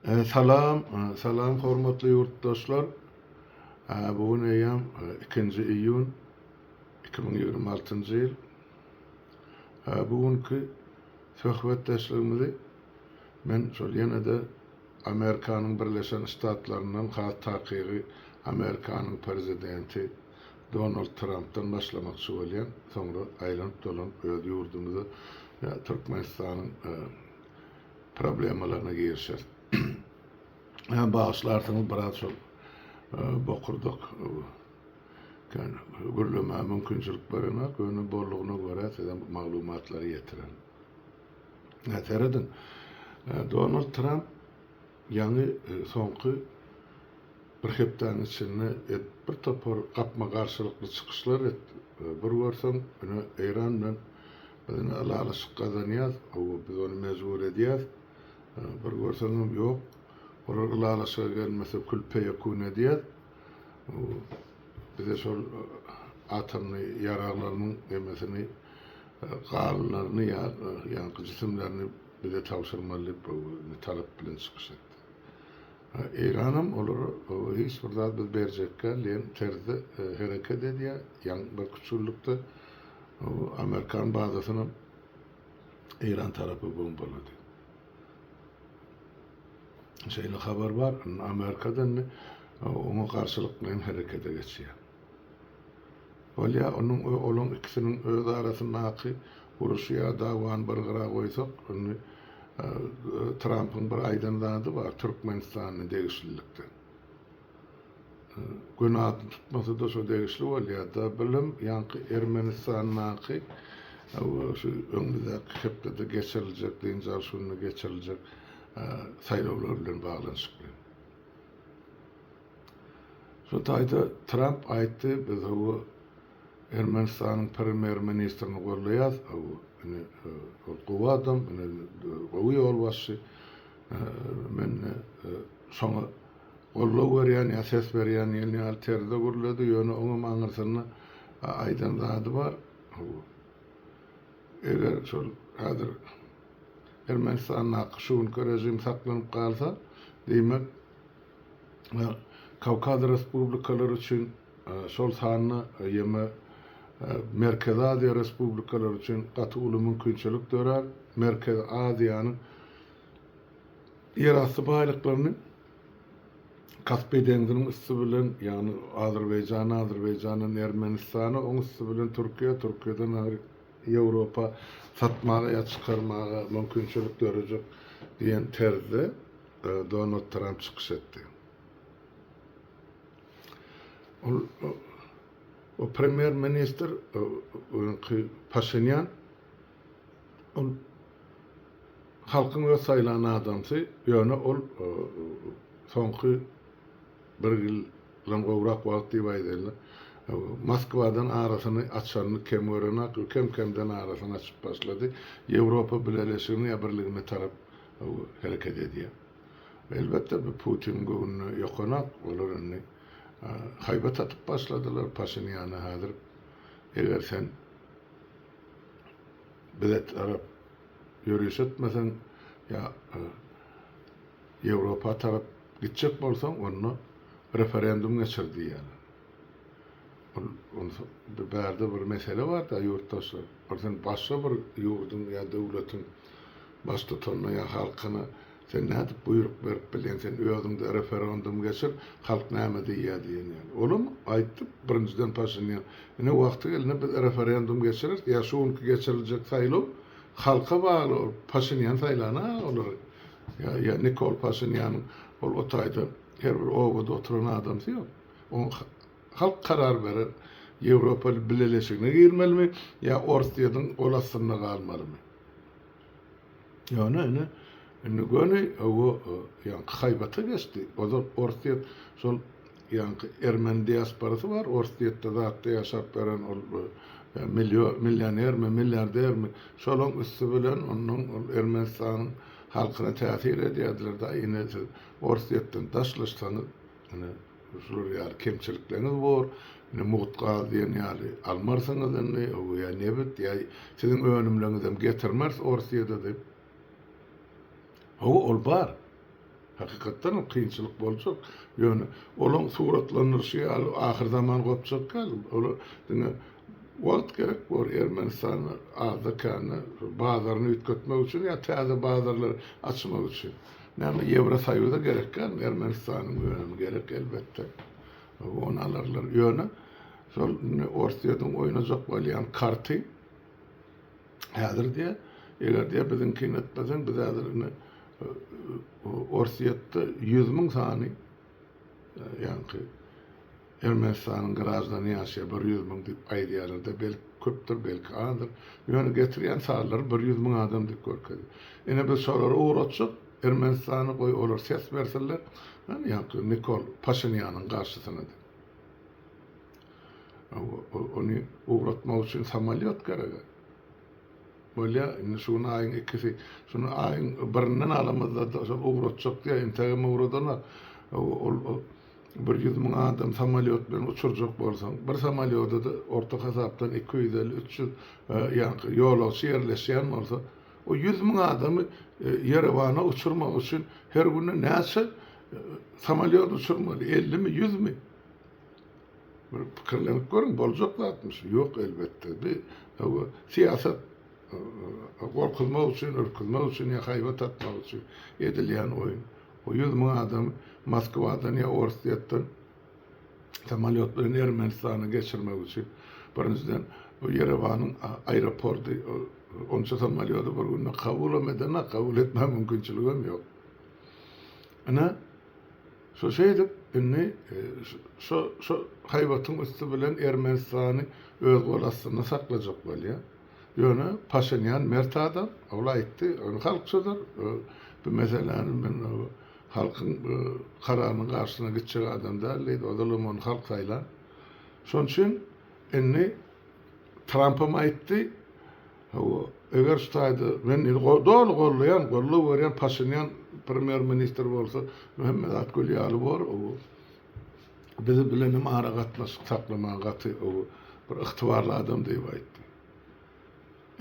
Salam, salam hormatly ýurtdaşlar. Bu gün eýýäm ikinji iýun iki müň ýigrimi altynjy ýyl. Bu günki söhbetdeşligimizi men şol ýene-de Amerikanyň Birleşen Ştatlaryndan has takygy Amerikanyň Prezidenti Donald Trampdan başlamakçy bolýan, soňra aýlanyp dolanyp öz ýurdumyza ýa Türkmenistanyň problemalaryna girişer. Hä bagyşlarsyňyz biraz şol bokurdak kän gürlemäge mümkinçilik berenok, ýöne boldugyna görä sizem maglumatlary ýetirerin. Hä serediň Donald Tramp Ýaňy soňky bir hepdäniň içinde et bir topar gapma garşylykly çykyşlar et bir görseň ine Eýran bilen biz ine ylalaşyk gazanýas hawa biz ony mejbur edýäs bir görseňem ýok olar ylalaşyga gelmese kül feýekun edýäs bize şol atomny ýaraglarymyň nemesini galylaryny ýa ýaňky jisimlerini Bize tabşyrmaly diýip bu talap bilen çykyş etdi. Eýranam olara hiç bir zat biz berjekgäl diýen terzde hereket edýär. Ýaňky bir küçgünlikde amerikan bazasynam eýran tarapy bombalady. Şeýle habar bar, amerika-da indi oňa garşylyklyň herekete geçýär. Bolýa, onuň we olaň ikisiniň öz arasyndaky uruşy ýa dawany bir gyra goýsak, indi Trampyň bir aýdan zady bar Türkmenistana degişlilikde. Gün atyny tutmasa-da şo degişli bolýa-da. Bilem, ýaňky Ermenistandaky we şu öňümizdäki hepdede geçiriljek, dynç alyş gününe geçiriljek saýlawlar bilen baglanyşykly. Şu taýda Tramp aýtdy, Biz hawa Ermenistanyň premýer ministrini goldaýas, hawa ine ol gowy adam, ine gowy ýolbaşçy, men şoňa goldaw berýän ýa ses berýän diýen ýaly terzde gürledi, ýöne oňam aňyrsynda aýdan zady bar, hawa eger şol häzir Ermenistandaky şu günki režim saklanyp galsa, diýmek, we Kawkaz respublikalary üçin, şol sanda ýeme Merkezi Aziýa respublikalary üçin gaty uly mümkinçilik dörär. Merkezi Aziýanyň ýerasty baýlyklaryny Kaspi deňziniň üsti bilen, ýagny Azerbaýjana, Azerbaýjandan Ermenistana, oň üsti bilen Türkiýä, Türkiýeden agyr Ýewropa satmaga ýa çykarmaga mümkinçilik dörejek diýen terzde Donald Tramp çykyş etdi. Ol o premýer ministr öňki Paşinýan ol halkyň öz saýlan adamsy, ýöne ol soňky bir ýyl lam gowrak wagt diýip aýdaýynda, Moskwadan arasyny açanyny kem görenok, kem-kemden arasyny açyp başlady. Ýewropa Bileleşigine ýa Birligine tarap hereket edýär. Elbetde bu Putiniň göwnüne ýokanok. Olar indi haýbat atyp başladylar Paşinýana häzir eger sen bize tarap ýöriş etmeseň ýa Ýewropa tarap gitjek bolsaň onda referendum geçir diýýärler. Ol onsuz bir bärde bir mesele bar-da, ýurtdaşlar. Ol sen başga bir ýurduň ýa döwletiň baştutanyna ýa halkyna sen nädip buýruk berip bilýäň? Sen özüň-de referendum geçir, halk näme diýýär diýen ýaly. Olam aýtdy, birinjiden Paşinýan, ine wagty gelende biz referendum geçireris, ýa şu günki geçiriljek saýlaw halka bagly, ol Paşinýan saýlana olary, ýa ýa Nikol Paşinýanyň ol o taýda her bir obada oturan adamsy ýok. Oň Halk karar berer. Ýewropa Bileleşigine girmelimi ýa Orsýetiň gol astynda galmalymy? Ýöne ine, indi göni owo ýaňky haýbata geçdi. Ozal Orsýet şol ýaňky ermeni diasporasy bar, Orsýetde zatda ýaşap beren ol millionermi, milliardermi, şolaň üsti bilen onnoň ol Ermenistanyň halkyna täsir edýärdiler-da, ine siz Orsýetden daşlaşsaňyz, ine, Şular ýaly kemçilikleriňiz bor. Indi mugt gaz diýen ýaly almarsyňyz indi, ýa nebit, ýa siziň önümleriňizem getirmeris Orsýede diýip. Hawa, ol bar. Hakykatdanam kynçylyk boljak. Ýöne olaň suratlandyryşy ýaly ahyr zaman gopjak däl. Ola diňe wagt gerek bor. Ermenistanda azda-kände bazaryny üýtgetmek üçin ýa täze bazarlar açmak üçin. Näme Ýewrosoýuza gerek däl, Ermenistanyň önümi gerek elbetde. Ony alarlar. Ýöne şol indi Orsýetiň oýnajak bolýan karty häzir diýýär, eger diýýär biziňkini etmeseň biz häzir indi Orsýetde ýüz müň sany Ýaňky Ermenistanyň graždany ýaşýar, bir ýüz müň diýip aýdýarlar-da, belki köpdür, belki azdyr. Ýöne getirýän sazlary bir ýüz müň adam diýip görkezýär. Ine, biz şolary ugratjak, Ermenistany, goý, olar ses bersinler, hany, ýaňky Nikol Paşinýanyň garşysyna diýip. Ony ugratmak üçin samolýot gerek-ä. Bolýa, indi şu gün aýyň ikisi, şuny aýyň birinden alamyzda şol ugratjak diýýä, intägem ugradana, ol bir ýüz müň adam samolýot bilen uçurjak bolsaň, bir samolýoda-da orta hasapdan iki ýüz elli, üç ýüz ýaňky ýolagçy ýerleşýän bolsa, o ýüz müň adamy Ýerewana uçurmak üçin her günde näçe samolýot uçurmaly, ellimi, ýüzmi? Bir pikirlenip görüň, boljak zatmy şu? Ýok, elbetde. Bi bu syýasat gorkuzmak üçin, ürküzmek üçin ýa haýbat atmak üçin edilýän oýun. O ýüz müň adamy Moskwadan ýa Orsýetden samolýot bilen Ermenistana geçirmek üçin. Birinjiden, bu Ýerewanyň aeroporty onça samolýody bir günde kabulam edenok, kabul etmäge mümkinçiligem ýok. Ine, Şo şeýdip, indi şo, şo haýbatyň üsti bilen Ermenistany öz gol astynda saklajak bolýar. Ýöne Paşinýan mert adam, ol aýtdy, ony halk çözer, bu meseläni men halkyň kararynyň garşysyna gitjek adam däl diýdi, ozalam ony halk saýlan. Şonuň üçin indi Trampam aýtdy, Hawa, eger şu taýda men indi doly goldaýan, goldaw berýän Paşinýan premýer ministr bolsa, bu hemme zat gül ýaly bor, owo. Bizi bilen hem ara gatnaşyk saklamaga gaty owo bir ygtybarly adam diýip aýtdy.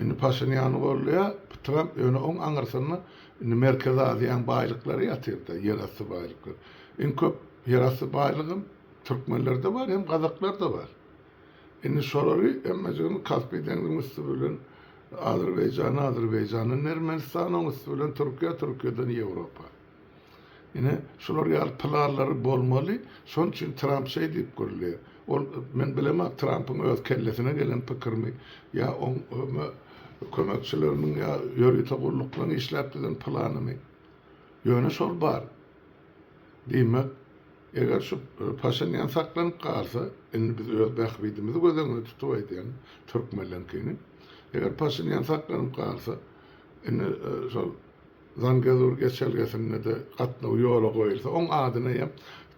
Indi Paşinýany goldaýar, bu Tramp ýöne oň aňyrsynda indi Merkezi Aziýanyň baýlyklary ýatyrda, ýerasty baýlyklary. Iň köp ýerasty baýlygym türkmenlerde bar, hem gazaklarda bar. Indi şolary hemmejigini Kaspi deňziň üsti bilen Azerbaýjana, Azerbaýjandan Ermenistana, oň üsti bilen Türkiýä, Türkiýeden Ýewropa. Ine, şular ýaly planlary bolmaly, şonuň üçin Tramp şeý diýip gürleýär. Ol, men bilemok, Trampyň öz kellesine gelen pikirmi ýa oň kömekçileriniň ýa ýörite gulluklaryň işläp düzen planymy, ýöne şol bar. Diýmek. Eger şu Paşinýan saklanyp galsa, indi biz öz bähbidimizi göz öňünde tutup aýdýan, türkmenlerňkini, eger Paşinýan saklanyp galsa, indi şol Zangezur geçelgesinde-de gatnaw ýola goýulsa, oň adyny eýýäm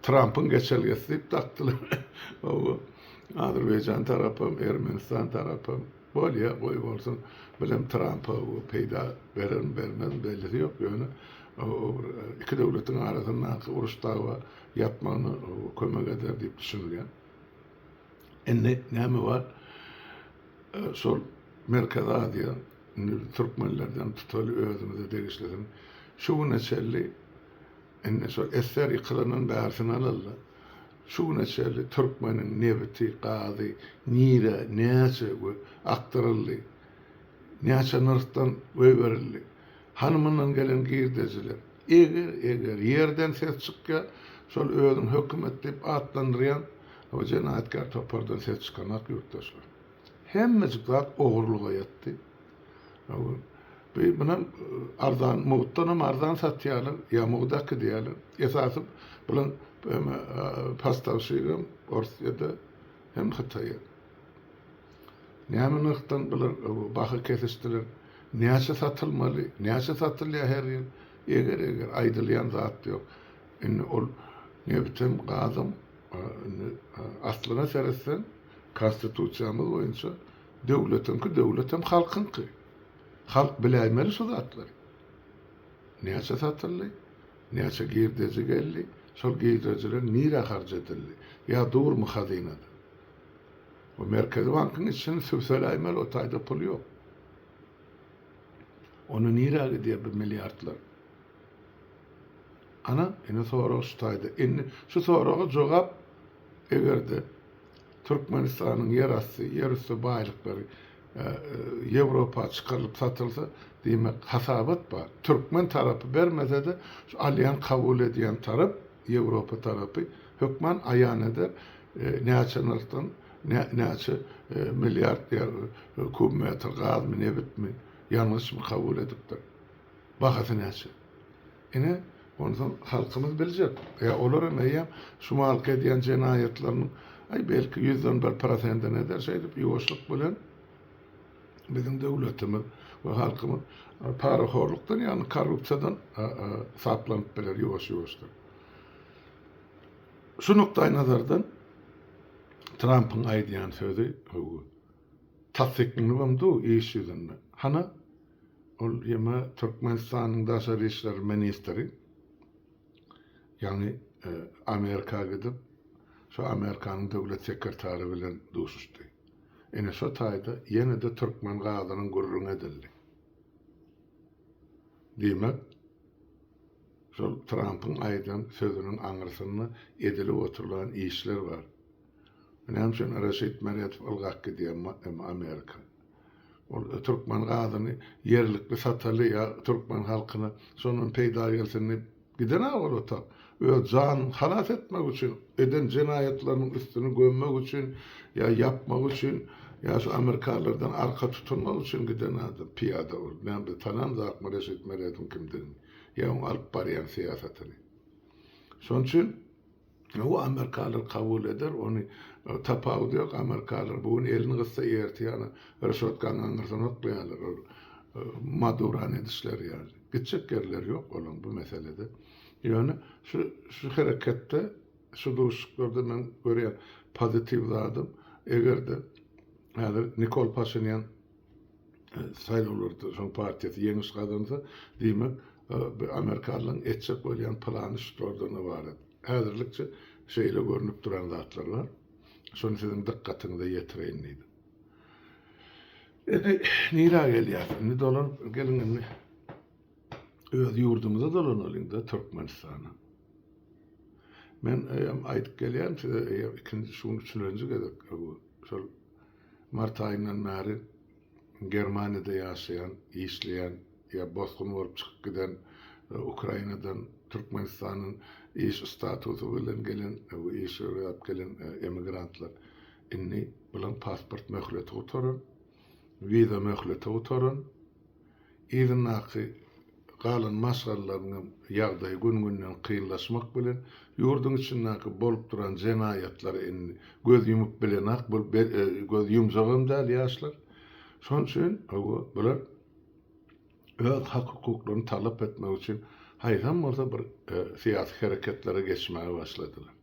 Trampyň geçelgesi diýip dakdylar. Oba, Azerbaýjan tarapam, Ermenistan tarapam. Bolýa, goý bolsun. Bilem Trampa bu peýda bererin, bermerin bellisi ýok, ýöne o bir iki döwletiň arasyndaky uruş-dawa ýatmagyna kömek eder diýip düşünilýär. Indi näme bar? Şol Merkezi Aziýa, indi biz türkmenlerden tutaly özümize degişlisini şu güne çenli indi şol SSR ýykylandan bärisini alally. Şu güne çenli türkmeniň nebiti, gazy nirä, näçe we akdyryldy? Näçe nyrhdan goýberildi? Hany mundan gelen girdejiler? Eger, eger, ýerden ses çykýa, şol özüň hökümet diýip atlandyrýan bu jenaýatkär topardan ses çykanok ýurtdaşlar. Hemmejik zat ogurlyga ýetdi. Bi bunam arzan mugtdanam arzan satýarlar, ýa mugdaky diýýärler. Esasy bulaň eme pastavşigem Orsýede hem Hytaýa. Näme nyrhdan bular baha kesişdiler? Näçe satylmaly? Näçe satylýar her ýyl? Eger eger aýdylýan zat ýok. Indi ol nebtem, gazam indi aslyna seretseň konstitusiýamyz boýunça Döwletiňki döwlet hem halkyňky. Halk biläýmeli şu zatlary. Näçe satyldy? Näçe girdeji geldi? Şol girdejiler nirä harç edildi? Ýa durmy hazynada? Bu Merkezi bankyň içini sübseläýmeli o taýda pul ýok. Onda nirä gidýär bu milliardlar? Ana, ine sorag şu taýda. Indi şu soraga jogap eger-de Türkmenistanyň ýerasty, ýerüsti baýlyklary Ýewropa çykarylyp satylsa, diýmek, hasabat bar. Türkmen tarapy bermese-de, şu alýan, kabul edýän tarap, Ýewropa tarapy hökman aýan eder, näçe nyrhdan, näçe milliard kub metr gazmy, nebitmi, ýangyçmy kabul edipdir, bahasy näçe. Ine, Onsoň halkymyz biljek. Ýa olar hem eýýäm şu malky edýän jenaýatlarynyň, aý, belki, ýüzden bir prosentini eder. Şeýdip, ýuwaşlyk bilen biziň döwletimiz we halkymyz parahorlukdan, ýagny korrupsiýadan saplanyp biler ýuwaş-ýuwaşdan. Şu nukdaýnazardan Trampyň aýdýan sözi, tassyklanybam dur iş ýüzünde. Hana? Ol ýene Türkmenistanyň daşary işler ministri, ýagny Amerika gidip, şo Amerikanyň döwlet sekretary bilen duşuşdy. Ine şo taýda ýene-de türkmen gazynyň gürrüňi edildi. Diýmek, şol Trampyň aýdan sözüniň aňyrsynda edilip oturylan işler bar. Näme üçin Reşit Meredow ylgap gidýär Amerika? Ol türkmen gazyny ýerlikli sataly ýa türkmen halkyna şondan peýda gelsin diýip giden-ä ol ota. Öz janyny halas etmek üçin, eden jenaýatlarynyň üstüni gömmek üçin ýa ýapmak üçin ýa şu amerikalylardan arka tutunmak üçin giden adam, pyýada ol. Näme biz tanamzakmy Reşit Merediň kimdigini ýa oň alyp barýan syýasatyny. Şon üçin Hawa amerikalylar kabul eder ony tapawudy ýok amerikalylar bu gün elini gyssa ertir ýaly ryşotkany aňyrdan oklaýarlar ol madurany edişleri ýaly gitjek ýerleri ýok olaň bu meselede ýöne şu şu hereketde şu duşuşyklarda men görýän pozitiw zadym egerde häzir Nikol Paşinýan saýlawlarda şoň partiýasy ýeňiş gazansa, diýmek, bu amerikalylaryň etjek bolýan plany şulardan ybarat. Häzirlikçe şeýle görnüp duran zatlar bar. Şony siziň dykgatyňyza ýetireýin diýdim. Indi nirä gelýäs? Indi dolanyp geliň indi. Öz ýurdumyza dolanalyň-da, Türkmenistana. Men eýýäm aýdyp gelýän size, eýýäm ikinji, şu gün üçülenji gezek bu, şol Mart aýyndan bäri Germaniýada ýaşaýan, işleýän ýa bosgun bolup çykyp giden Ukrainadan Türkmenistanyň iş statusy bilen gelen we iş ýöräp gelen emigrantlar indi bularyň pasport möhleti gutaran, wiza möhleti gutaran, Yzyndaky galan maşgalalaryň hem ýagdaýy gün-günden kynlaşmak bilen, ýurduň içindäki bolup duran jenaýatlary indi göz ýumup bilenak bolup be göz ýumjagam däl ýaşlar. Şonuň üçin hawa, bular öz hak-hukuklaryny talap etmek üçin haýsam bolsa bir syýasy hereketlere geçmäge başladylar.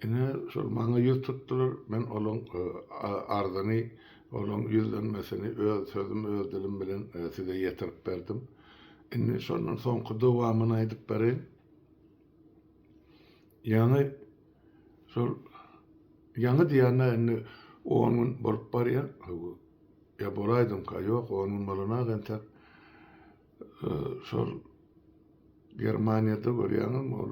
Ine, şol maňa ýüz tutdular. Men olaň arzyny, olaň ýüzlenmesini öz sözüm, öz dilim bilen size ýetirip berdim. Indi şondan soňky dowamyny aýdyp bereýin. Ýaňy şol, ýaňy diýýän-ä, indi on gün bolup barýar. Ýa bolaýdymyka? Ýok, on gün bolan-ak entek. Şol Germaniýada görýäňem ol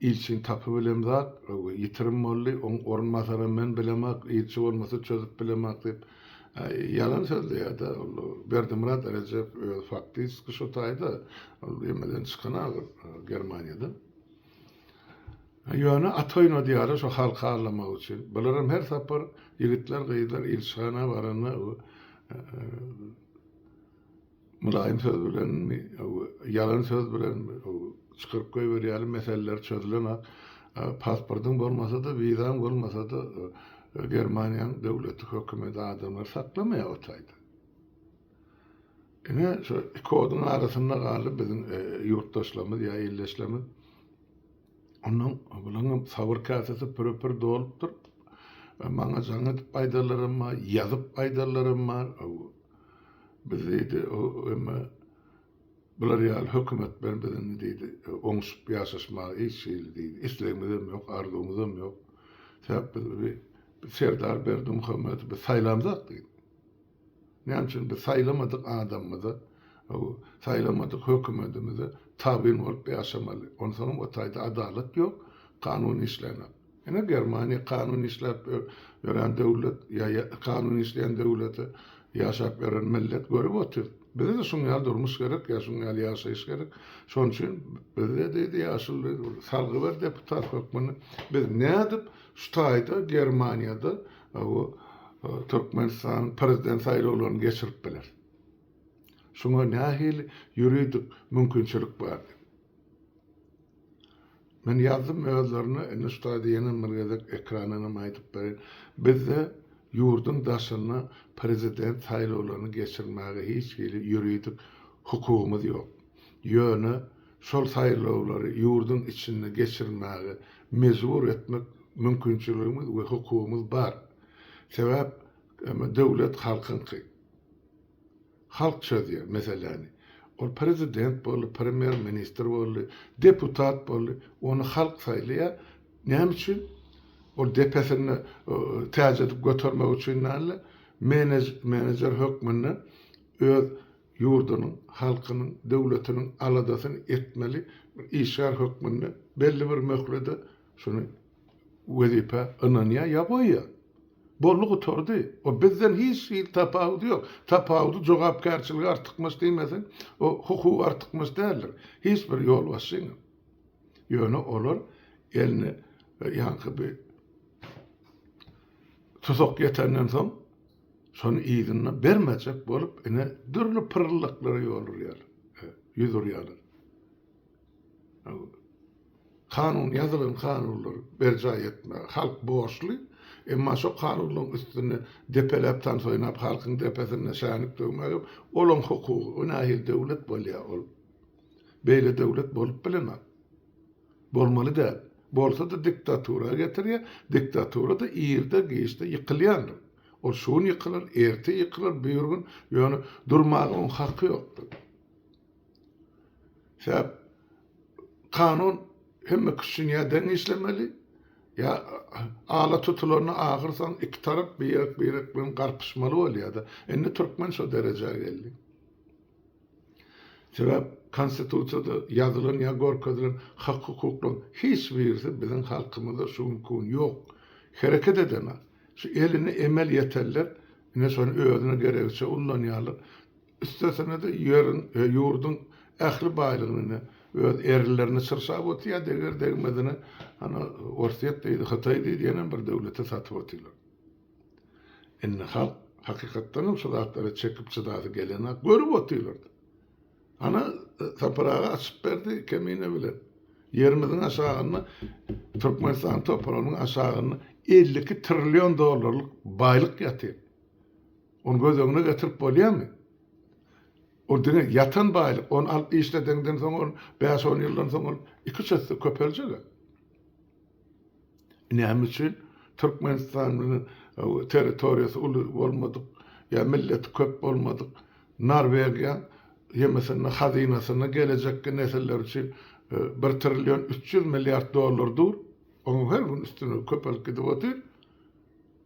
ilçiň tapyp bilen zat ýitirim boldy, oň orunbasaram men bilemok, ilçi bolmasa çözüp bilemok diýip ýalan sözleýärde ol Berdimyrat Erejew özi faktiski şo taýda ol emeden çykan agyr Germaniýadan. Ýöne at oýnadýara şo halky allamak üçin. Bularam her sapar ýigitler gyzlar ilçihana baranda Mylaýym söz bilenmi, ýalan söz bilenmi, çykaryp goýberýärler, meseleler çözülenak. Pasportyň bolmasa-da, wizaň bolmasa-da, Germaniýanyň döwleti, hökümeti adamlary saklamaýar o taýda. Ine, şu iki oduň arasynda galdy biziň ýurtdaşlarymyz ýa ildeşlerimiz. Onuň, bularyň sabyr käsesi püre-pür dolupdyr. Maňa jaň edip aýdanlaram bar, ýazyp aýdanlaram bar. Biz diýdi, emma bular ýaly hökümet bilen biziň diýdi, oňşup ýaşaşmaga hiç hili diýdi, islegimizem ýok, arzuwymyzam ýok. Sebäp biz Serdar Berdimuhamedowy biz saýlamzok diýdi. Näme üçin biz saýlamadyk adamymyza, saýlamadyk hökümetimize tabyn bolup ýaşamaly? Onsoňam o taýda adalat ýok, kanun işlänok. Ine, Germaniýa kanun işläp ýören döwlet, kanun işleýän döwlete ýaşap ýören millet görüp otyrys. Bize-de şuň ýaly durmuş gerek, ýa şuň ýaly ýaşaýyş gerek. Şonuň üçin bizde diýdi, ýaşuly diýdi, salgy ber deputat hökmünde, biz nädip şu taýda Germaniýada Bu Türkmenistanyň prezident saýlawlaryny geçirip biler. Şuňa nähili ýuridik mümkinçilik bar? Men ýazdym özlerine, indi şu taýda ýene bir gezek ekrana hem aýdyp bereýin. Bizde ýurduň daşynda prezident saýlawlaryny geçirmäge hiç hili ýuridik hukugymyz ýok. Ýöne şol saýlawlary ýurduň içinde geçirmäge mejbur etmek mümkinçiligimiz we hukugymyz bar. Sebäp, emma döwlet halkyňky. Halk çözýär meseläni. Ol prezident boldy, premýer ministr boldy, deputat boldy, ony halk saýlaýar. Näme üçin? Ol depesinde täç edip götermek üçin däl-de, menejer hökmünde öz ýurdunyň, halkynyň, döwletiniň aladasyny etmeli, bir işgär hökmünde belli bir möhlede şuny wezipä ynanýar ýa goýýar. Boldy gutardy. O bizden hiç hili tapawudy ýok. Tapawudy jogapkärçiligi artykmaç diýmeseň, o hukugy artykmaç däldir. Hiç bir ýolbaşçyňam. Ýöne olar eline ýaňky bir tusak ýetenden soň, Şony yzyna bermejek bolup, ine, dürli pyryldaklara ýol urýarlar, ýüz urýarlar. Kanun, ýazylan kanunlary berjaý etmäge halk borçly, emma şo kanunlaryň üstüni depeläp, tans oýnap, halkyň depesinde şänik döwmäge olaň hukugy, o nähili döwlet bolýar ol? Beýle döwlet bolup bilenok. Bolmaly däl. Bolsa-da diktatura getirýär, diktatura-da irde-giçde ýykylýandyr. Ol şu gün ýykylar, erte ýykylar, birigün, ýöne durmaga oň haky ýokdur. Sebäp kanun hemmeki üçin ýa deň işlemeli, ýa ala tutulanda ahyrsoňy iki tarap birek-birek bilen garpyşmaly bolýar-da. Indi türkmen şo derejä geldi. Sebäp Konstitusiýada ýazylan ýa görkezilen hak-hukuklaryň hiç birisi biziň halkymyzda şu günki gün ýok. Hereket edemä. Şu eline emel ýetenler ine şony özüne geregiçe ullanýarlar. Üstesine-de ýeriň, ýurduň ähli baýlygyny ine öz erlerine çyrşap otyr, deger-degmezine ana Orsýet diýdi, Hytaý diýdi ýene bir döwlete satyp otyrlar. Indi halk hakykatdanam şu zatlary çekip çydasy gelenok, görüp otyrlar-da. Ana, Sapar aga açyp berdi Kemine bilen. Ýerimiziň aşagynda Türkmenistan topragynyň aşagynda elli iki trillion dollarlyk baýlyk ýatyr. Ony göz öňüne getirip bolýarmy? Ol diňe ýatan baýlyk, ony alyp işledeňden soň ol bäş-on ýyldan soň ol iki-üç esse köpeljek-ä. Näme üçin Türkmenistan bilen territoriýasy uly bolmadyk ýa milleti köp bolmadyk Norwegiýa ýemesinde hazynasyna gelejekki nesiller üçin bir trillion üç ýüz milliard dollar dur, onuň her gün üstüni köpelip gidip otyr.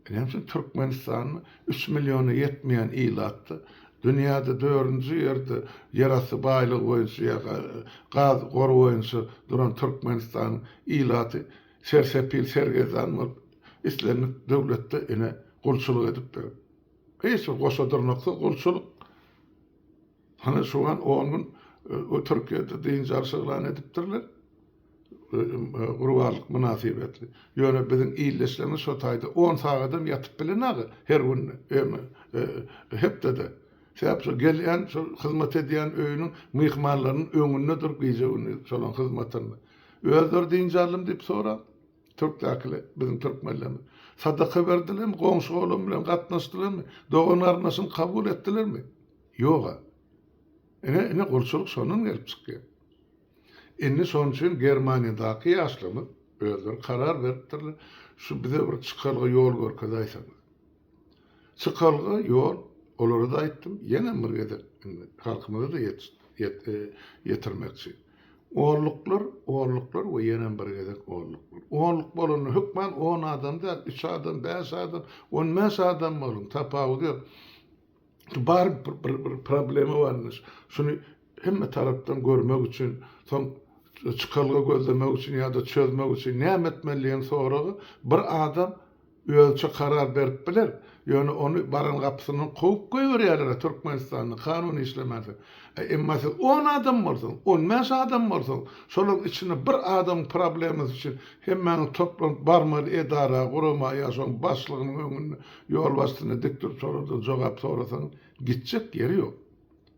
Näme üçin Türkmenistanda üç milliona ýetmeýän ilatda, dünýäde dördünji ýerde ýerasty baýlygy boýunça ýa gaz gory boýunça duran Türkmenistanyň ilaty sersepil sergezdan bolup, islendik döwletde ine gulçulyk edipdir. Hiç bir goşadyrnaksyz gulçulyk. Hany şu wan on gün o Türkiýede dynç alyş yglan edipdirler gurbanlyk mynasybetli. Ýöne biziň ildeşlerimiz şo taýda on sagadam ýatyp bilenag her gün ýöne hepdede. Sebäp şo gelýän şo hyzmat edýän öýüniň myhmanlarynyň öňünde durup gije gündüz şolaň hyzmatynda. Özleri dynç aldym diýip sorap. Türkdäkile biziň türkmenlerimiz. Sadaka berdilermi? Goňşy-golam bilen gatnaşdylarmy? Dogan-garyndaşyny kabul etdilermi? Ýog-a. Ine, ine gulçulyk şondan gelip çykýar. Indi şonuň üçin Germaniýadaky ýaşlarymyz özleri karar beripdirler, şu bize bir çykalga ýol görkezäýseňiz. Çykalga ýol, olara-da aýtdym, ýeňem bir gezek indi halkymyza-da ýetirmekçi. Onluklar, onluklar we ýeňem bir gezek onluklar. Onluk bolanda hökman on adam däl, üç adam, bäş adam, on bäş adam boluň, tapawudy ýok. bar bir bir problema bar indi şuny hemme tarapdan görmek üçin soň çykalga gözlemek üçin ýa-da çözmek üçin näme etmelidigini soragy bir adam özüçe karar berip biler ýöne ony baran gapysyndan kowup goýberýärlera Türkmenistanda kanun işlemese e emma siz on adam bolsaň on bäş adam bolsaň şolaryň içinde bir adamyň problemasy üçin hemmäňiz toplanyp barmaly edara gurama ýa şoň başlygynyň öňünde Ýolbaşçyny dik durup soradan jogap sorasaň, gitjek ýeri ýok.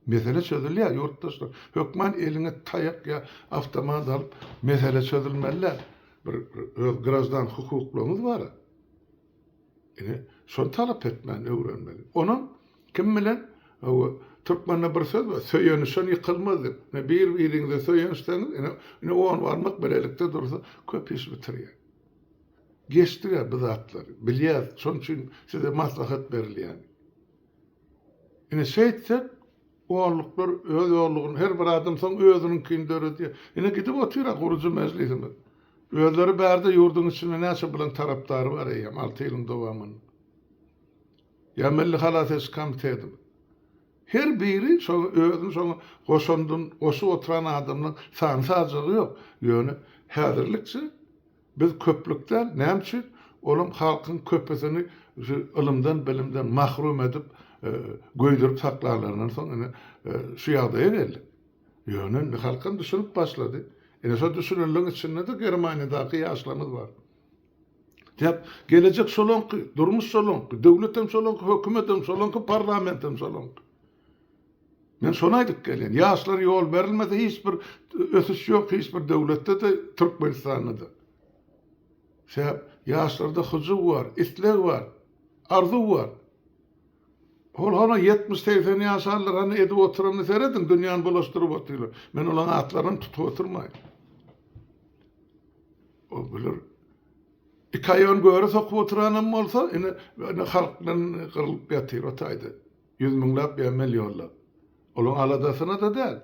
Mesele çözülýär, ýurtdaşlar. Hökman eliňe taýak ýa awtomat alyp, mesele çözülmeli-dä. Bir öz graždan hukuklaryňyz bar-a. Ine, şony talap etmäni öwrenmeli. Onam kim bilen, hawa, türkmende bir söz bar, söýenişen ýykylmaz diýip. Ine, bir-biriňize söýenişseňiz, ine, ine on barmak bilelikde dursa, köp iş bitirýär. Geçdiga bu zatlary, bilýäs, şonuň üçin size maslahat berilýän. Ine, şeýtsek, olluklar öz ollugyny, her bir adam soň özüniňkini döredýär. Ine, gidip otyr-a gurujy mejlisimiz. Özleri bärde ýurduň içinde näçe bilen tarapdary bar eýýäm, alty ýylyň dowamynda. Ýa Milli halas ediş komitetimiz. Her biri şoňa özüni şoňa goşandyny goşup oturan adamlaryň sany-sajagy ýok. Ýöne häzirlikçe, Biz köplük däl, näme üçin? Olam halkyň köpüsini şu ylymdan, bilimden mahrum edip, göýdürip saklanlaryndan soň ine şu ýagdaýa geldik. Ýöne indi halkam düşünip başlady. Ine şo düşünenleriň içinde-de Germaniýadaky ýaşlarymyz bar. Sebäp gelejek şolaňky, durmuş şolaňky, döwletem şolaňky, hökümetem şolaňky, parlamentem şolaňky. Men şony aýdyp gelýän. Ýaşlar ýol berilmese hiç bir ösüş ýok hiç bir döwletde-de Türkmenistanda-da. Sebäp ýaşlarda hyjuw bar, isleg bar, arzuw bar. Ol hany ýetmiş, segsen ýaşanlar hany edip oturanyny serediň, dünýäni bulaşdyryp otyrlar. Men olaň atlaryny tutup oturmaýyn. Ol bular iki aýagyny göre sokup oturanam bolsa, ine halk bilen gyrylyp ýatyr o taýda. Ýüz müňläp emmel ýollap. Olaň aladasyna-da däl.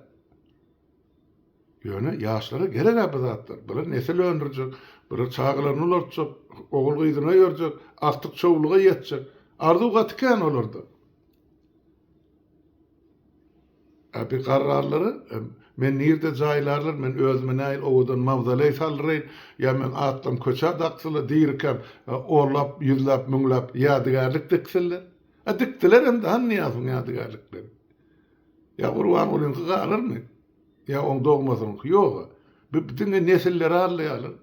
Ýöne ýaşlara gereg-ä bu zatlar. Bular nesil öndürjek, bular çagalaryny ulaltjak, ogul-gyzyny öýerjek, agtyk çowluga ýetjek. Arzuw gaty kän olarda. Ä bir garrarlary, Men nirde jaýlarlar, men özüme nähili owadan mawzoleý saldyraýyn, ýa men atlym köçä dakdylar, dirikäm onlap, ýüzläp, müňläp ýadygärlik diksinler. A dikdiler hem-de Hanyýasyň ýadygärliklerini. Ýa Gurbangulynyňky galarmy? Ýa oň dogmasynyňky? Ýog-a. Bu diňe nesilleri aldaýarlar.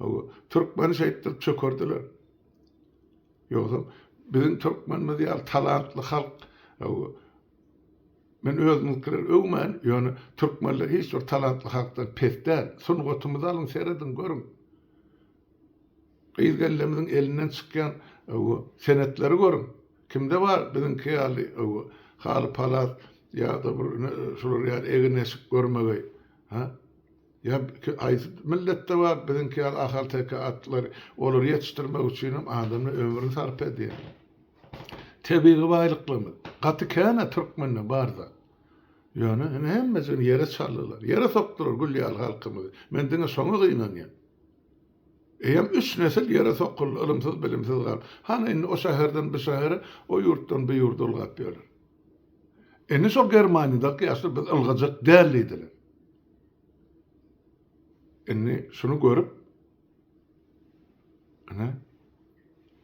Hawa, türkmeni şeýtdirip çökerdiler. Ýogsam, biziň türkmenimiz ýaly talantly halk, hawa, men özümiňkileri öwmän, ýöne türkmenler hiç bir talantly halkdan pes däl. Sungatymyzy alyň, serediň, görüň. Gyz gelnimiziň elinden çykýan owo senetleri görüň. Kimde bar biziňki ýaly owo haly palas ýa-da bir ine şular ýaly egin-eşik görmegeý. Hä? Ýa haýsy milletde bar biziňki ýaly ahalteke atlary? Olary ýetişdirmek üçinem adamlar ömrüni sarp edýär. Tebigy baýlyklarymyz gaty kän-ä türkmende bar zat. Ýöne ine hemmesini ýere çaldylar. Ýere sokdular gül ýaly halkymyzy. Men diňe şoňa gynanýan. Eýýäm üç nesil ýere sokuldy, ylymsyz-bilimsiz galdy. Hany indi o şäherden bu şähere, o ýurtdan bu ýurda ylgap ýörler. Indi şol Germaniýadaky ýaşlar biz ylgajak däl diýdiler. Indi şuny görüp, ine,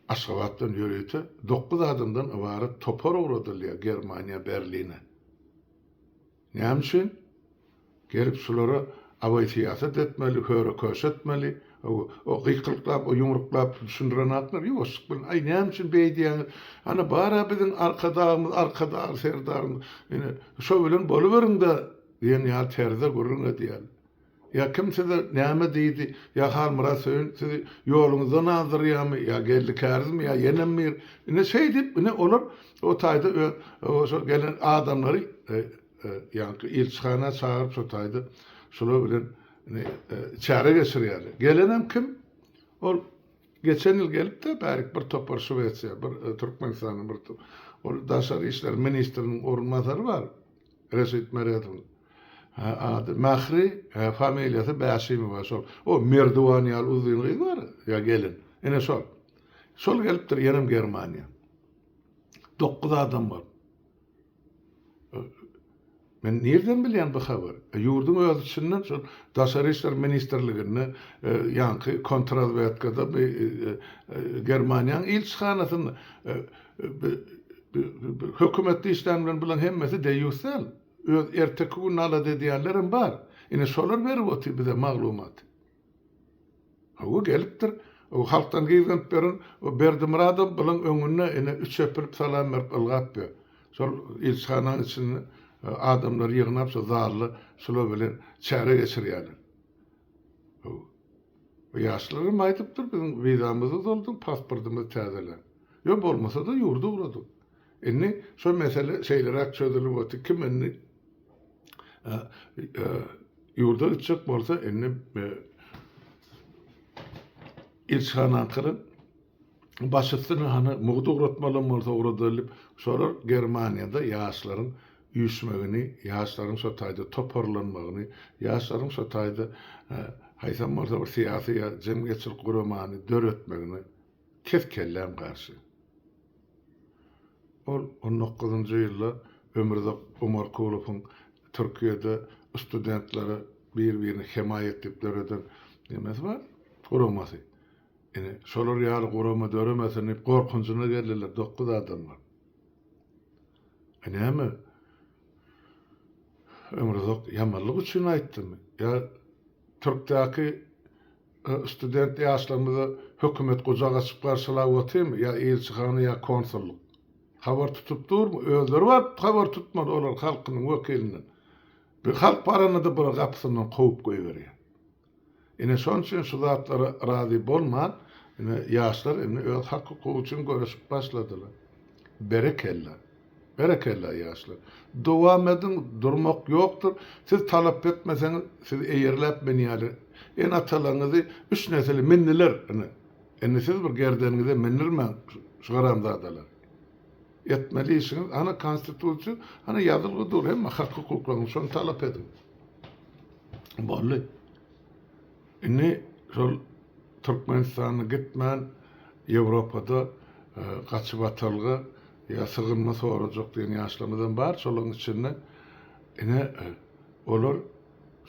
Aşgabatdan ýörite dokuz adamdan ybarat topar ugradylýar Germaniýa, Berline. Näme üçin? Gelip şulara abaýsyýasat etmeli, höre-köşe etmeli, o gykylyklap, o ýumruklap düşündiren atlar ýuwaşlyk bilen, Aý, näme üçin beýdýäňiz? Ana, bar-a biziň Arkadagymyz, Arkadag Serdarymyz, ine, şo bilen boluberiň-dä diýen ýaly terzde gürrüň edýärler. Ýa kim size näme diýdi? Ýa Halmyrat Söýün sizi ýoluňyzdan azdyrýamy? Ýa geldi kärizmi? Ýa ýenem bir? Ine şeýdip, ine olar o taýda öz şol gelen adamlary ýaňky ilçihana çagyryp şo taýda şular bilen ine çäre geçirýärler. Gelenem kim? Ol geçen ýyl gelip-de bärik bir topar Şwesiýa, bir Türkmenistanyň bir ol daşary işler ministriniň orunbasary bar. Reşit Meredowyň ady Mähri, familiýasy Bäşimowa şol. O Merdiwan ýaly uzyn gyz bar ýa gelin. Ine şol. Şol gelipdir ýenem Germaniýa. Dokuz adam bor. Men nirden bilýän bu habary? E, ýurduň öz içinden şol Daşary işler ministrliginde e, ýaňky kontrazwedkada bu e, e, Germaniýanyň ilçihanasynda e, e, Hökümetde işlän bilen bulaň hemmesi deýýus däl. Öz erteki gününi alada edýänlerem bar. Ine şolar berip otyr bize maglumaty. Hawa gelipdir. O halkdan gyzganyp beren o Berdimyradow bulaň öňünde ine üç epilip salam berip ylgap ýör. Şol ilçihananyň içinde adamlary ýygnap şo zalda şular bilen çäre geçirýärler. Hawa. Bu ýaşlarym aýdypdyr, biziň wizamyzy dolduň, pasportymyzy täzeleň. Ýok, bolmasa-da ýurda ugradyň. Indi şo mesele şeýleräk çözülip otyr, kim indi ýurda gitjek bolsa, indi ilçihana gyryp, baş üstüne hany mugdy ugratmalam bolsa ugradylyp, şolar Germaniýada ýaşlaryň üýşmegini, ýaşlaryň şo taýda toparlanmagyny, ýaşlaryň şo taýda haýsam bolsa bir syýasy ýa jemgyýetçilik guramany döretmegine kes kelläm garşy. Ol on dokuzynjy ýylda Ömürzak Omarkulowyň Türkiýede studentlere bir-birini hemaýat diýip döreden nemesi bar, guramasy. Ine, şolar ýaly gurama döremesin diýip gorkunjyna geldiler dokuz adamlar. E näme? Ömruzak ýamanlyk üçin aýtdymy? Ýa Türkdäki e, student ýaşlarymyza hökümet gujak açyp garşylap otyrmy? Ýa ilçihana ýa konsullyk? Habar tutup durmy? Özleri baryp habar tutmaly olar halkynyň wekilinden. Bir halk baranda-da bular gapysyndan kowup goýberýär. Ine şonuň üçin şu zatlara razy bolman ine ýaşlar indi öz hak hukugy üçin göreşip başladylar. Berekella. Berekella ýaşlar. Dowam ediň durmak ýokdur. Siz talap etmeseňiz siz eýerläp men ýaly ene atalaňyzy üç nesili mindiler ine. Indi siz bir gerdeniňize mindirmäň şu haramzadalar. Etmeli işiňiz ana konstitusiýa ana ýazylgy dur hemme hak hukuklaryňyz şony talap ediň. Boldy. Indi şol Türkmenistana gitmän Ýewropada gaçyp atalga ýa sygynma sorajak diýen ýaşlarymyzam bar şolaryň içinde ine olar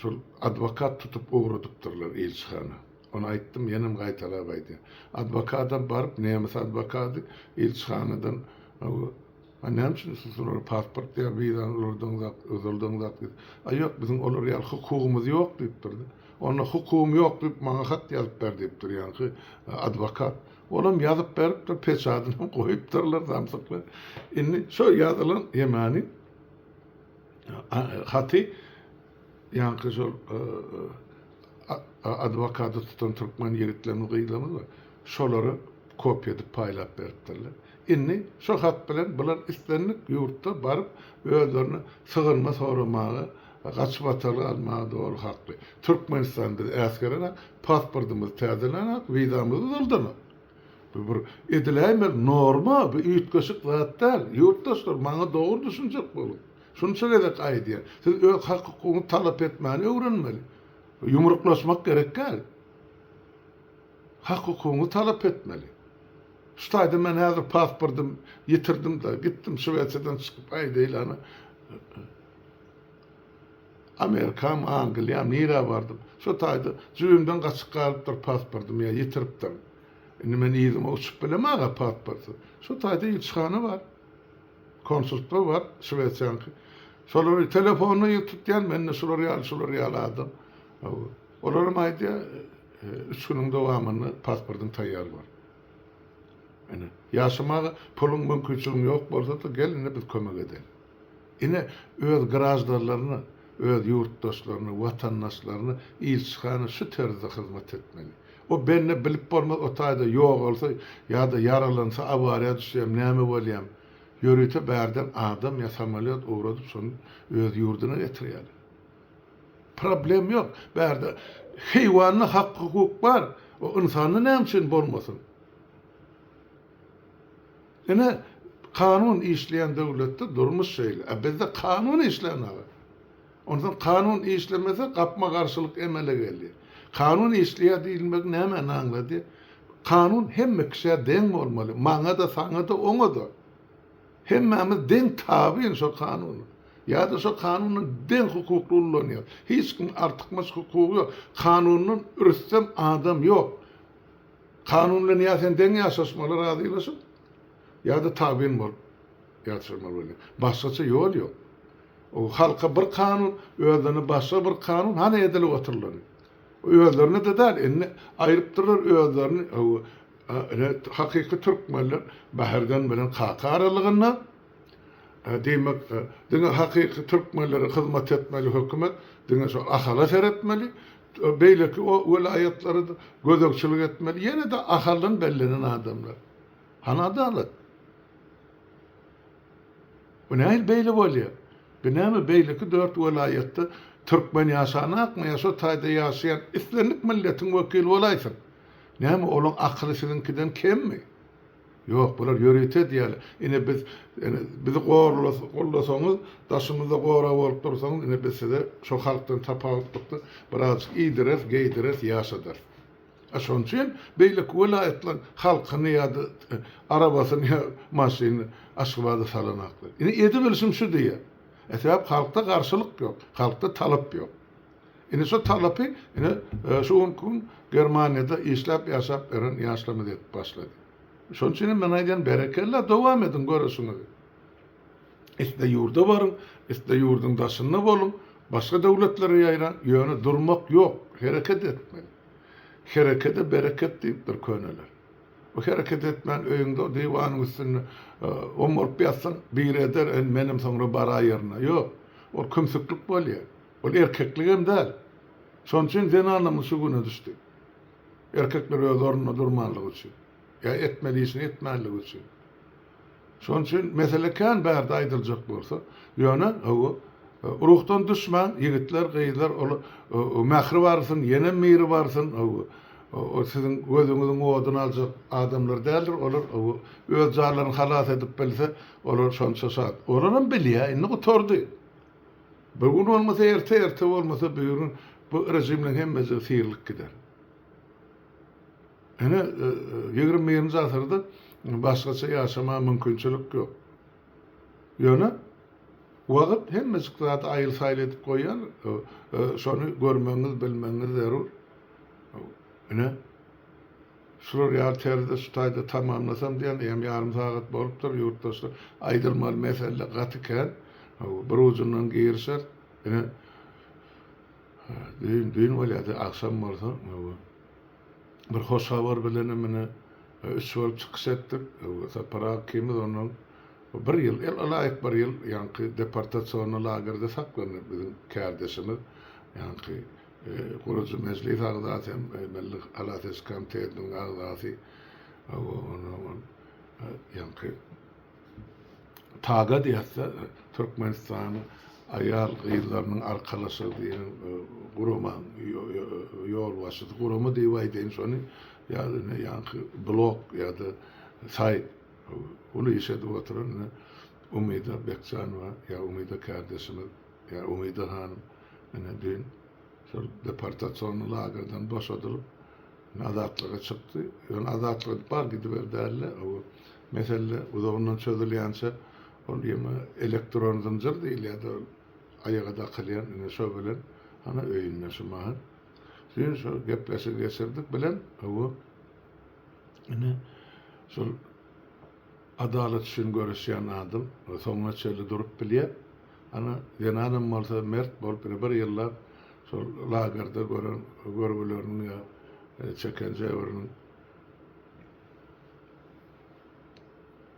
şol adwokat tutup ugradypdyrlar ilçihana. Ony aýtdym, ýenem gaýtalap aýdýan. Adwokadam baryp, nemes adwokady ilçihanadan A näme üçin siz olara pasport ýa wizany ulardaňyzak, uzaldaňyzak diýdi. A ýok, biziň olar ýaly hukugymyz ýok diýipdir-de. Onda hukugym ýok diýip, maňa hat ýazyp ber diýipdir, ýaňky adwokat. Olam ýazyp beripdir, peçadynam goýupdyrlar samsyklar. Indi şo ýazylan ýemany haty Ýaňky şol adwokady tutan türkmen ýigitlerimiz, gyzlarymyz bar. Şolara kopýa edip paýlap beripdirler. Indi şo hat bilen bular islendik ýurtda baryp özlerine sygynma soramaga, gaçyp atalga almaga doly hakly. Türkmenistan biz äsgerenok, pasportymyzy täzelenok, wizamyzy uzaldanok. Bu bir ediläýmeli norma, bu üýtgeşik zat däl. Ýurtdaşlar maňa dogry düşünjek boluň. Şunça gezek aýdýan, siz öz hak-hukugyňyzy talap etmäni öwrenmeli. Ýumruklaşmak gerek däl. Hak-hukugyňyzy talap etmeli. Şu taýda men häzir pasportym ýitirdim-de, gitdim Şwesiýadan çykyp aýdaýlana, Amerikam, Angliýam, nirä bardym. Şu taýda jübimden gaçyp galypdyr pasportym ýa ýitiripdirin. Indi men yzyma uçup bilemag-a pasportsyz. Şu taýda ilçihana bar. Konsultlar bar, şwesiýanyňky. Şolary telefonda ýüz tutýan, mende şular ýaly, şular ýaly adam. Olar hem aýdýar, üç günüň dowamynda pasportyň taýýar bor. Ine, ýaşamaga puluň, mümkinçiligiň ýok bolsa-da, gel indi biz kömek edeýin. Ine, öz graždanlaryna, öz ýurtdaşlaryna, watandaşlaryna ilçihana şu terzde hyzmat etmeli. O bende bilip bolmaz o taýda ýogalsa ýa-da ýaralansa awariýa düşýämi näme bolýamy. Ýörite bärden adam ýa samolýot ugradyp şony öz ýurduna getirýäler. Problem ýok. Bärde heýwanda hak-hukuk bar. O ynsanda näme üçin bolmasyn? Ine kanun işleýän döwletde durmuş şeýle. A bizde kanun işlän aga. Onsoň kanun işlemese, gapma-garşylyk emele gelýär. Kanun işleýär diýilmegi nämäni aňlady? Kanun hemme kişä deň bolmaly, maňa-da, saňa-da, oňa-da. Hemmämiz deň tabyn şo kanuna. Ýa-da şo kanuny deň hukukly ullanýarys. Hiç kimiň artykmaç hukugy ýok. Kanundan rüstem adam ýok. Kanun bilen ýa sen deň ýaşaşmaly razylaşyp, Ýa-da tabyn bolup ýatyrmaly bolýar. Başgaça ýol ýok. O halka bir kanun, özlerine başga bir kanun, hany edilip oturylany. Özlerine-de däl, indi aýrypdyrlar özlerini, hawa, ine, hakyky türkmenler Bäherden bilen kaka aralygynda, diýmek, diňe hakyky türkmenlere hyzmat etmeli hökümet, diňe şol Ahala seretmeli, beýleki o welaýatlara-da gözegçilik etmeli, ýene-de Ahaldan bellenen adamlar. Hany adalat? Bu nähili beýle bolýa? Bu näme beýleki dört welaýatda türkmen ýaşanakmy ýa şo taýda ýaşaýan islendik milletiň wekili bolaýsyn? Näme olaň akyly siziňkiden kemmi? Ýok bular ýörite edýäler. Ine biz ene bizi gollasaňyz daşymyzda gorag bolup dursaňyz ine biz size şo halkdan tapawutlykda birazjyk iýdireris, geýdireris, ýaşadarys. Şonuň üçin beýleki welaýatlaryň halkyny ýa-da arabasyny ýa maşynyny Aşgabada salanaklar. Indi edibilişim şu diýýän. Sebäp halkda garşylyk ýok, halkda talap ýok. Indi şo talapy ine şu günki gün Germaniýada işläp ýaşap ýören ýaşlarymyz edip başlady. Şonuň üçin hem men aýdýan berekella dowam ediň göreşiňizi. Isle ýurda baryň, isle ýurduň daşynda boluň, başga döwletlere ýaýraň, ýöne durmak ýok, hereket etmeli. Herekede bereket diýipdir köneler. Bu hereket etmän öýüňde diwanyň üstünde oňaryp ýatsaň, biri eder, indi menem soňra baraý ýerine. Ýok, ol kümsüklik bolýa. Ol erkeklik hem däl. Şonuň üçin zenanlarymyz şu güne düşdi. Erkekler öz ornunda durmanlygy üçin. Ýa etmeli işini etmänligi üçin. Şonuň üçin mesele kän bärde aýdyljak bolsa, ýöne hawa, ruhdan düşmäň, ýigitler, gyzlar, ol mähri barsyn, ýenem miri barsyn, hawa, ol siziň gözüňiziň oduny aljak adamlar däldir, olar, hawa, öz janlaryny halas edip bilse, olar şonça şat. Olaram bilýär, indi gutardy. Bu gün bolmasa erte, erte bolmasa bügün bu režimleň hemmejigi syrylyp gider. Ine, ýigrimi birinji asyrda başgaça ýaşamaga mümkinçilik ýok. Ýöne wagt hemmejik zady aýyl-saýyl edip goýýar, şony görmegiňiz, bilmegiňiz zerur. Ine, şular ýaly terzde şu taýda tamamlasam diýen, eýýäm ýarym sagat bolupdyr, ýurtdaşlar. Aýdylmaly mesele gaty kän. Bir ujundan girişer. Ine, düýn bolýar-da, agşam bolsa. bir hoş habar bilenem ine üç bolup çykyş etdik. Sapar Hakymyz ondan bir ýyl, ýyl-ylaýyk bir ýyl ýaňky deportasionny lagerde saklandy biziň kärdeşimiz. Ýaňky gurujy mejlis agzasy hem Milli halas ediş komitetiniň agzasy. Ýaňky Tagat ýatsa, Türkmenistanyň aýal-gyzlarynyň arkalaşygy diýen guramanyň ýolbaşçysy, gurama diýip aýdaýyn şony, ýa ine ýaňky blog ýa-da saýt, uly iş edip oturan ine Umyda Bekjanowa ýa Umyda kärdeşimiz, ýa Umyda hanym ine düýn şol deportasiony lagerden boşadylyp, Men azatlyga çykdy. Ýöne azatlyga bar gidiber däldi. Mesele uzagyndan çözülýänçä ol ýene elektron zynjyr diýilýärdi. Aýaga dakylýan ine şo bilen hany öýünde şu mahy. Düýn şo gepleşigi geçirdik bilen ine şol Adalat üçin göreşýän adam soňuna çenli durup bilýär. Ana, zenanam bolsa mert bolup ine bir ýyllap şol lagerde gören görgüleriniň ýa çeken jebriniň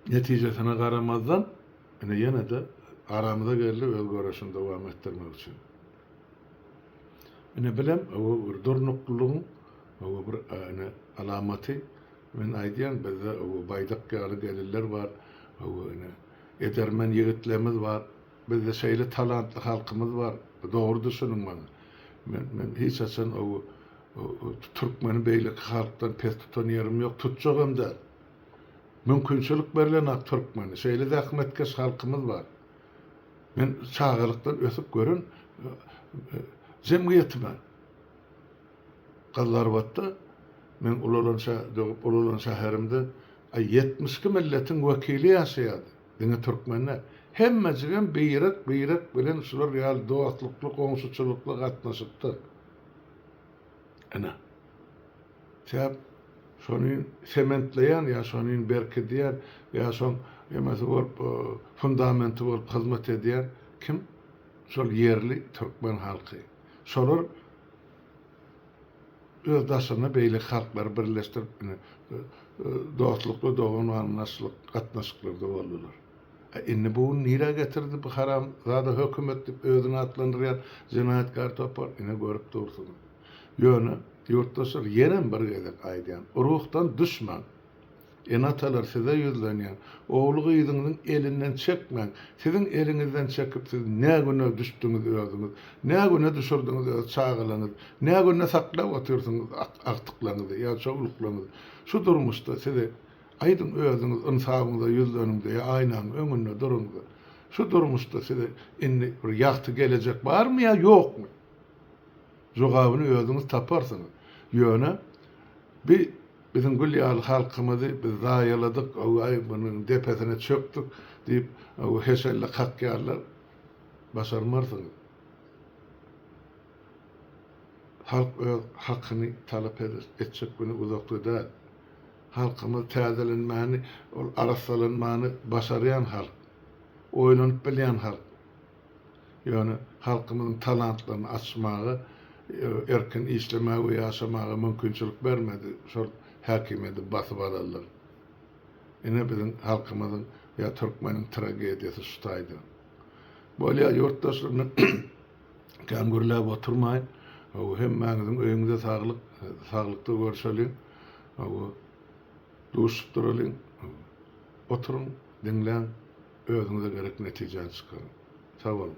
netijesine garamazdan ine ýene-de aramyza geldi öz göreşini dowam etdirmek üçin. Ine bilem bir durnuklylygyň bir ine alamaty. Men aýdýan bizde owo Baýdak ýaly gelinler bar, owo ine edermen ýigitlermiz bar, bizde şeýle talantly halkymyz bar, dogry düşüniň maňa. Men men hiç haçan owo türkmeni beýleki halkdan pes tutan ýerim ýok, tutjagam däl. Mümkinçilik berlenok türkmeni, şeýle zähmetkeş halkymyz bar. Men çagalykdan ösüp gören jemgyýetime. Gyzlarbatda men ulalan şä dögüp ulalan şäherimde aý ýetmiş iki milletiň wekili ýaşaýardy. Diňe türkmen däl. Hemmejigem birek birek bilen şular ýaly dostlukly goňşuçylykly gatnaşypdyr. Ine. Çäp şonyn sementleýän ýa şonyn berkidýän ýa şoň emesi bolup fundamenti bolup hyzmat edýän kim? Şol ýerli türkmen halky. Şolar öz daşynda beýleki halklary birleşdirip ine dostlukly dogan gatnaşlyk gatnaşyklarda boldular. E indi bu gün nirä getirdi bu haram zada hökümet dip özüni atlandyrýan jenaýatkar topar ine görüp dursuňyz. Ýöne ýurtdaşlar ýenem bir gezek aýdýan ruhdan düşmäň. Ene-atalar size ýüzlenýän. Ogly-gyzyňyzyň elinden çekmäň. Siziň eliňizden çekip siz nä güne düşdüňiz özüňiz. Nä güne düşürdiňiz öz çagalaňyz. Nä günde saklap otyrsyňyz agtyklaňyzy ýa çowluklaňyzy. Şu durmuşda sizi Aýdyň özüňiz ynsabyňyza ýüzleniňde ýa aýnaň öňünde duruňda. Şu durmuşda size indi bir ýagty gelejek barmy ýa ýokmy? Jogabyny özüňiz taparsyňyz. Ýöne bi Biziň gül ýaly halkymyzy biz zaýaladyk, owaý, munuň depesine çökdük diýip, heşelle kakýarlar. Başarmarsyňyz. Halk öz hakyny talap eder. Etjek güni uzakda däl. Halkymyz täzelenmäni, ol arassalanmany başarýan halk. Oýlanyp bilýän halk. Ýöne halkymyzyň talantlaryny açmaga, erkin işlemäge we ýaşamaga mümkinçilik bermedi, şol häkimiýeti basyp alanlar. Ine biziň halkymyzyň ýa türkmeniň tragediýasy şu taýda. Bolýa ýurtdaşlarymdan kän gürläp oturmaýyn. Hemmäňiziň öýüňize saglyk, saglykda görşeliň. Duşup duralyň, oturyň, diňläň, özüňize gerek netijäni çykaryň. Sag boluň!